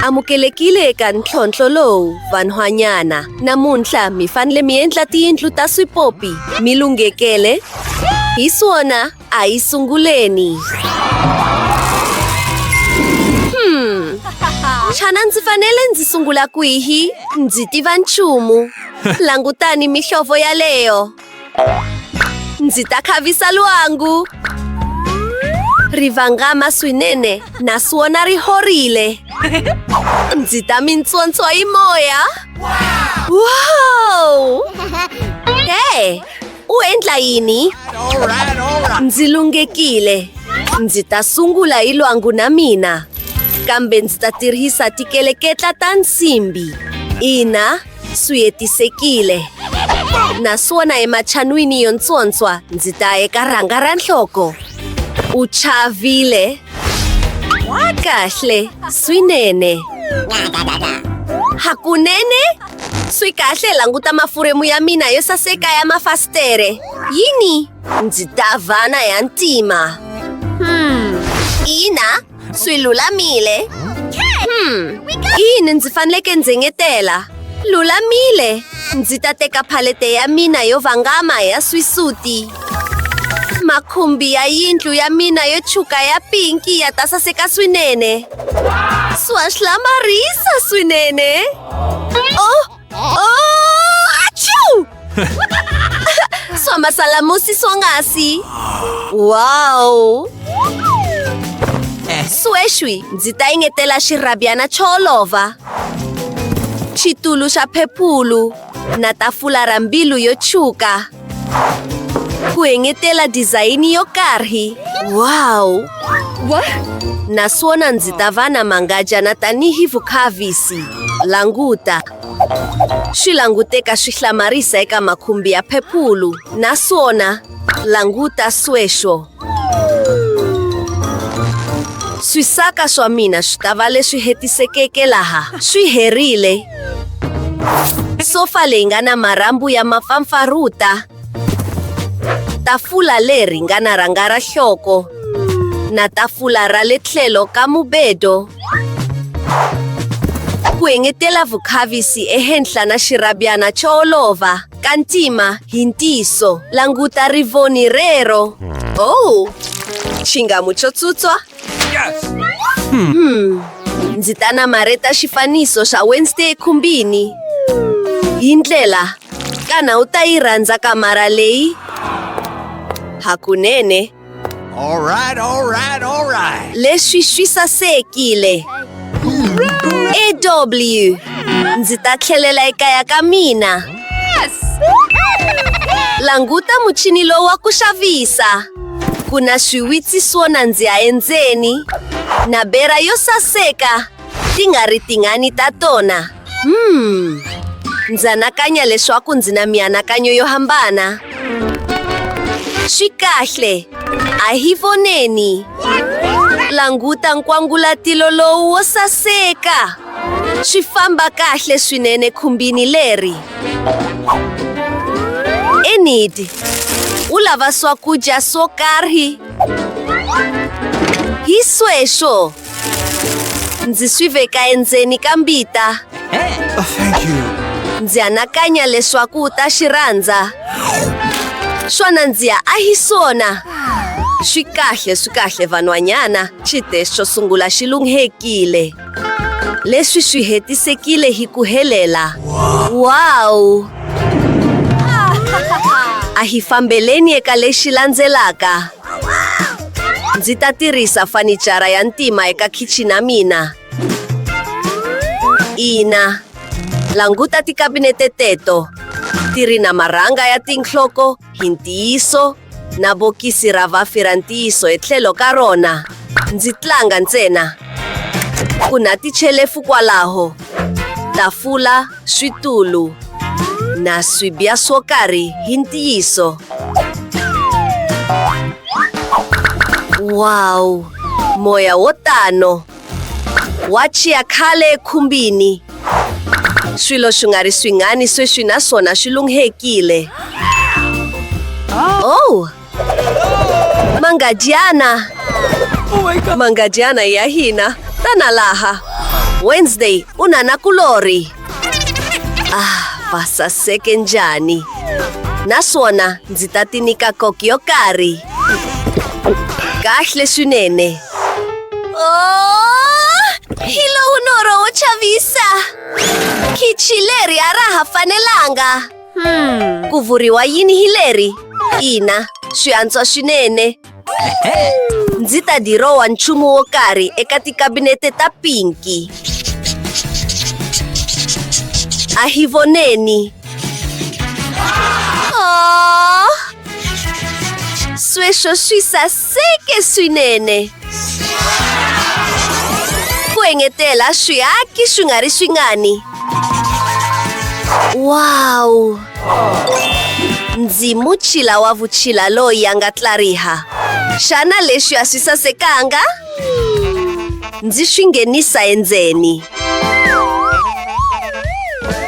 Amukelekile eka ntlhontlho lowu vanhwanyana. Namuntlha mi fanele mi endla tiyindlu ta swipopi mi lunghekele. Hi swona a yi sunguleni. Hmm. Xana ndzi fanele ndzi sungula kwihi? Ndzi tiva nchumu. Langutani mihlovo yaleyo. Ndzi ta khavisa lwangu. Ri vangama swinene naswona ri horile. Ndzi ta mi ntswontswa hi moya. Wow! Hey! U endla yini? Ndzi lunghekile. Ndzi ta sungula hi lwangu na mina. Kambe ndzi ta tirhisa tikeleketla ta nsimbi. Ina, swi hetisekile naswona ematshan'wini yo ntswontswa ndzi ta eka rhanga ra nhloko u chavile kahle swinene hakunene swi kahle languta mafuremu ya mina yo saseka ya mafasitere yini ndzi ta vana ya ntima hmm. ina Swi lulamile. Hmm. Yini ndzi faneleke ndzi engetela? Lulamile. Ndzi ta teka phalete ya mina yo vangama ya swisuti. Makhumbi ya yindlu ya mina yo tshuka ya pinki ya ta saseka swinene. Swa hlamarisa swinene. Oh, Somasalamu si swonghasi. Wow! Sweswi ndzi ta engetela xirhabyana xo olova, xitulu xa phephulu na tafula ra mbilu yo tshwuka. Ku engetela dizayini yo karhi. Wow! Wa? Naswona ndzi ta va na mangajana tanihi vukhavisi. Languta. Swi languteka swi hlamarisa eka makhumbi ya phepulu. Naswona, languta sweswo. Swisaka swa mina swi ta va leswi hetisekeke laha swi herile. Sofa leyi nga na marhambu ya mapfampfaruta. Tafula leri nga na rhanga ra hloko na tafula ra le tlhelo ka mubedo. Ku engetela vukhavisi ehenhla na xirabyana xo olova. Ka ntima, hi ntiyiso. Languta rivoni rero. Oh, xingamu xo tsutswa. Hmm. Ndzi ta namarheta xifaniso xa Wednesday ekhumbini. Hi ndlela, kana u ta yi rhandza kamara leyi? Hakunene. All right, all right, all right. Leswi swi sasekile. AW. Ndzi ta tlhelela ekaya ka mina. Languta muchini lowu wa ku xavisa. Ku na swiwitsi swo nandziha endzeni na bera yo saseka ti nga ri tingani ta tona. Hmm. Ndzi anakanya leswaku ndzi na mianakanyo yo hambana. Swi kahle. A hi voneni. Languta nkwangulatilo lowu wo saseka. Swi famba kahle swinene khumbini leri. Enid, u lava swakudya swo karhi. Hi sweswo. ndzi swi veka endzeni ka mbita oh, ndzi anakanya leswaku u ta xi rhandza swona ndzi ya ahisona swi kahle swi kahle vanhwanyana xite xo sungula xi lunghekile leswi swi hetisekile hi ku helela wawu a hi fambeleni eka lexi landzelaka Ndzi ta tirhisa fanichara ya ntima eka khichini ya mina. Ina, languta tikabinete teto. Ti ri na marhanga ya tinhloko hi ntiyiso na bokisi ra vafi ra ntiyiso etlhelo ka rona. Ndzi tlanga ntsena. Ku na tichelefu kwalaho. Tafula. switulu na swibya swo karhi hi ntiyiso. Wow! Moya wo tano wa chiya khale ekhumbini. Swilo swi nga ri swingani sweswi naswona swi lunghekile. Oh! Mangadyana. Mangadyana ya hina tana laha. Wednesday u na na kulorhi. Ah, va saseke njhani. Naswona ndzi ta ti nyika koki yo karhi. Kahle swinene. Oh, hi lowu norho wo chavisa. Khichi leri a ra ha fanelanga. Hmm. Ku vuriwa yini hi leri? Ina, swi antswa swinene. Ndzi ta dirowa nchumu wo karhi eka tikabinete ta pinki. A hi voneni. Aww. Sweswo swi sas Seke swinene. Ku engetela swiaki swi nga ri swingani. Wow! Ndzi muchila wa vuchila loyi a nga tlariha. Xana leswi a swi sasekanga? Ndzi swi nghenisa endzeni.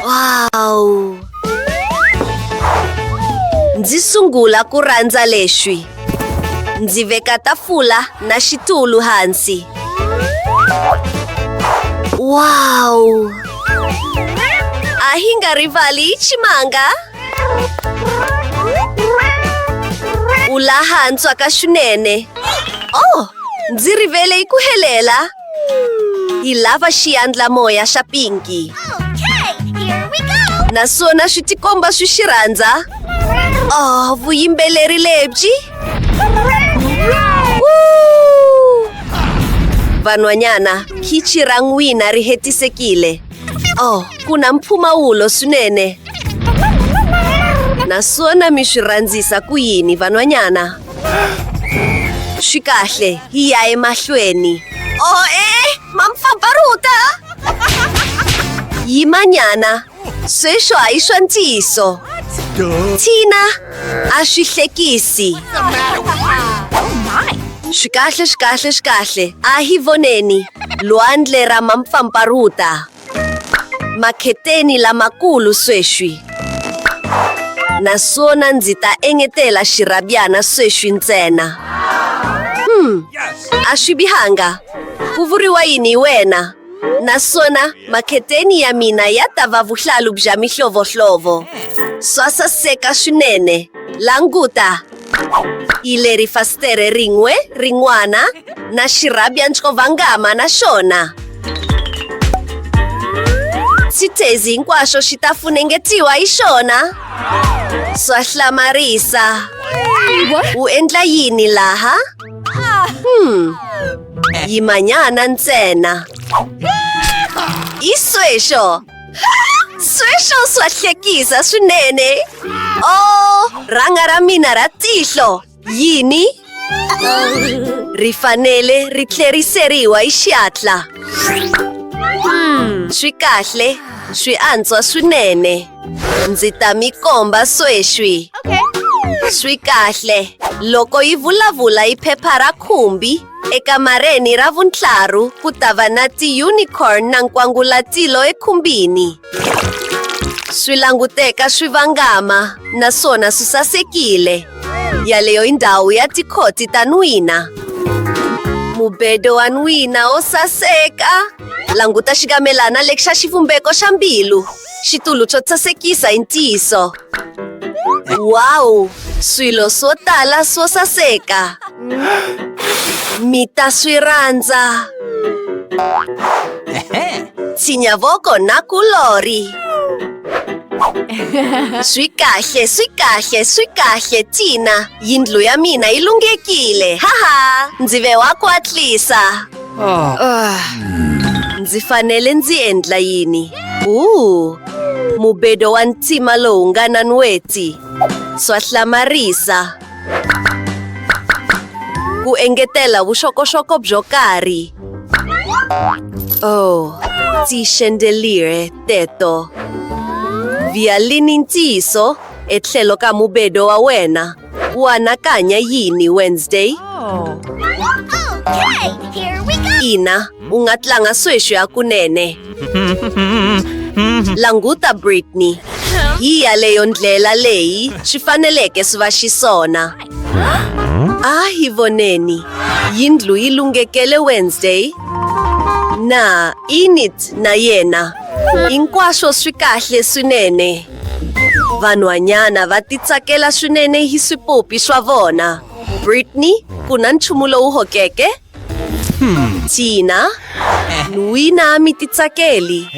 Wow! Ndzi sungula ku rhandza leswi. Ndzi veka tafula na xitulu hansi. Wow! A hi nga rivali chimanga. U laha ntswaka swinene. Oh, ndzi rivele ku helela. Hi lava xiandlamoya xa pinki. Naswona swi tikomba swi xi rhandza. Oh, vuyimbeleri lebyi. Woo! Vanhwanyana, khichi ra n'wina ri hetisekile. Oh, ku na mpfumawulo swinene. Naswona mi swi rhandzisa ku yini van'wanyana? Swi kahle, hi ya emahlweni. Oh, eh, ma mpfapfarhuta! Yimanyana, sweswo a hi swa ntiyiso. Tina! a swi hlekisi swi kahle swi kahle swi kahle a hi voneni lwandle ra mampfampfarhuta makheteni lamakulu sweswi naswona ndzi ta engetela xirhabyana sweswi ntsena hmm a swi bihanga ku vuriwa yini hi wena Naswona makheteni ya mina ya ta va vuhlalu bya mihlovohlovo. Swa saseka swinene. Languta! Hi leri fasitere rin'we rin'wana na xirhabya ncovangama na xona. Xithezi hinkwaxo xi ta funengetiwa hi xona. Swa hlamarisa. U endla yini laha? Hmm. Di mañana ntsena. I sweswo. Sweswo swa hlekisa swinene. Oh, rhanga ra mina ra tihlo. Yini? Ri fanele ri tlheriseriwa hi xihatla. Swi kahle, swi antswa swinene. Ndzi ta mi komba sweswi. Okay. Swi kahle. Loko yi vulavula hi phepha ra khumbi, ekamareni ra vuntlaru ku ta va na ti-unicorn na nkwangulatilo ekhumbini. Swi languteka swi vangama naswona swi sasekile. Yaleyo i ndhawu ya tikhoti ta n'wina. Mubedo wa n'wina wo saseka. Languta xikamelana lexi xa xivumbeko xa mbilu. Xitulu xo sasekisa hi ntiyiso. Wow! Swilo swo tala swo saseka. Mi ta swi rhandza. Tsinyavoko na kulori. Swi kahle, swi kahle, swi kahle, Tina. Yindlu ya mina yi lunghekile. Haha! Ndzi ve wa kwatlisa. Ndzi fanele ndzi endla yini? Uu, mubedo wa ntima lowu nga na nweti. Swa hlamarisa. Ku engetela vuxokoxoko byo karhi. Oh, ti xendelire teto. Vialini ntiyiso etlhelo ka mubedo wa wena. O anakanya yini Wednesday? Oh. Okay, here we go! Ina, u nga tlanga sweswi hakunene. Languta Britney. Hi yaleyo ndlela leyi swi faneleke swi va xiswona. A hi voneni. Yindlu yi lunghekele Wednesday. Na Init na yena. Hinkwaswo swi kahle swinene. Vanhwanyana va titsakela swinene hi swipopi swa vona. Brittany, ku na nchumu lowu hokeke? Tina, n'wina mi titsakeli.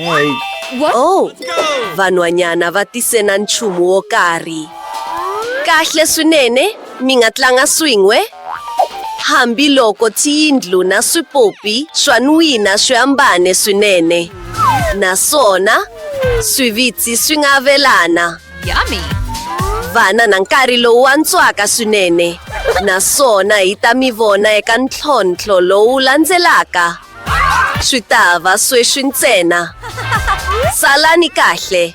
Oh, vanhwanyana va tise na nchumu wo karhi. Kahle swinene. Mi nga tlanga swin'we? Hambi loko tiyindlu na swipopi swa n'wina swi hambane swinene naswona swivitsi swi nga avelana vana na nkarhi lowu antswaka swinene naswona hi ta mi vona eka ntlhontlho lowu landzelaka swi ta va sweswi ntsena salani kahle